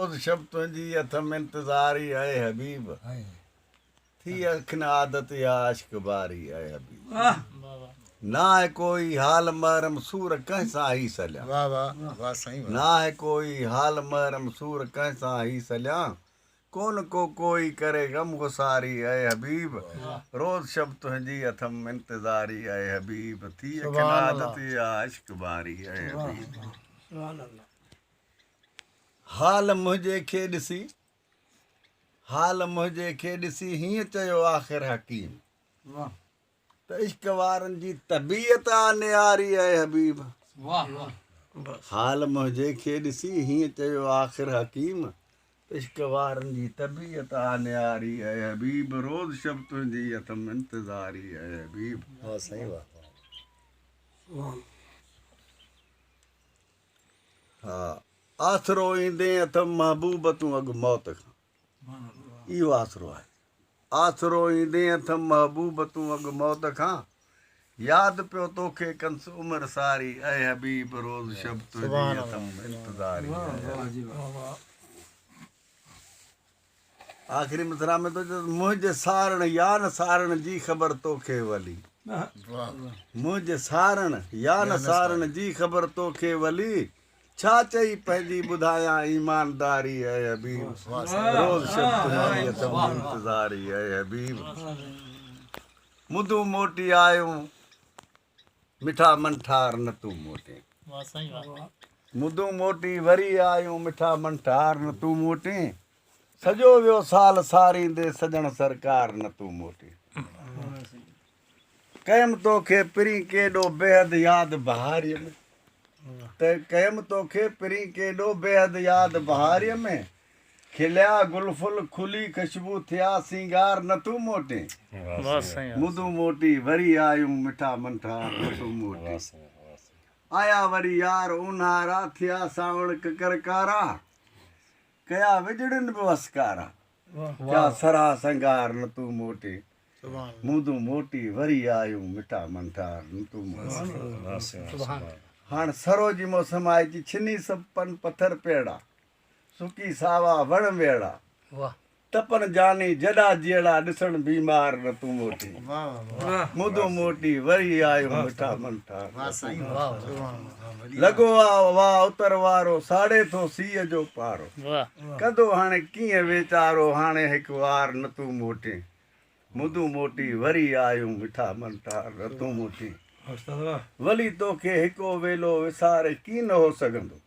روز شب تنهنجي اٿم انتظار اي حبيب ٿي اکين عادت يا عشق باري اي حبيب ناهي ڪوئي حال محرم سور ڪنهن سان هي سليان واه واه واه سائين ناهي ڪوئي حال محرم سور ڪنهن سان هي سليان ڪون ڪو ڪوئي ڪري غم گساري اي حبيب روز شب تنهنجي اٿم انتظاري اي حبيب ٿي اکين عادت يا عشق باري اي حبيب سبحان الله حال منهنجي کي ڏسي، حال منهنجي کي ڏسي هيئن چيو آخر حڪيم ته عشق وارن جي طبيعت آ نياري اي حبيب حال منهنجي کي ڏسي هيئن چيو آخر حڪيم ته عشق وارن جي طبيعت آ نياري اي حبيب روز شب تنهنجي اٿم انتظاري اي حبيب واه سائين واه ها آسرو ايندين اٿم محبوب تون اڳ موت کان اهو آسرو آهي آسرو ايندين اٿم محبوب تون اڳ موت کان ياد پيو توکي ڪنس عمر ساري اي حبيب روز شب تنهنجي اٿم انتظاري آخري مصرع ۾ ٿو چوس منهنجي سارڻ يا نه سارڻ جي خبر توکي ولي منهنجي سارڻ يا نه سارڻ جي خبر توکي ولي ڇا چئي پنهنجي ٻڌايان ايمانداري اي حبيب روز شب تمهاري اٿم انتظاري اي حبيب مدون موٽي آيون مٺا من ٺار نه تون موٽين. واه سائين واه. مدون موٽي وري آيون مٺا من ٺار نه تون موٽين. سڄو ويو سال ساريندي سڄڻ سرڪار نه تون موٽين. ڪيم توکي پرين ڪيڏو بيحد ياد بهاريء ۾. ڪيم توکي پرين ڪيڏو بيحد ياد بهاريء ۾. کليا گل ڦل کلي خشبو ٿيا سينگار نه تون موٽين مدون موٽي وري آيون مٺا منٺار نه تون موٽين آيا وري يار اونهارا ٿيا سانوڻ ڪڪر ڪارا ڪيا وڄڙين به وسڪارا ٿيا سرها سنگار نه تون موٽين مدون موٽي وري آيون مٺا منٺار نه تون موٽين هاڻ سرو جي موسم آهي جي ڇني سڀ پن پٿر پيڙا سڪي ساوا وڻ ويڙا تپن جاني جڏا جيئڙا ڏسڻ بيمار نه تون موٽي مدو موٽي وري آيو مٺا من ٺا لڳو آ وا اتر وارو ساڙي ٿو سيء جو پارو ڪندو هاڻي ڪيئن ويچارو هاڻي هڪ وار نه تون موٽي مدو موٽي وري آيو مٺا من ٺا نه تون موٽي ولي توکي هڪو ويلو وساري ڪين هو سگهندو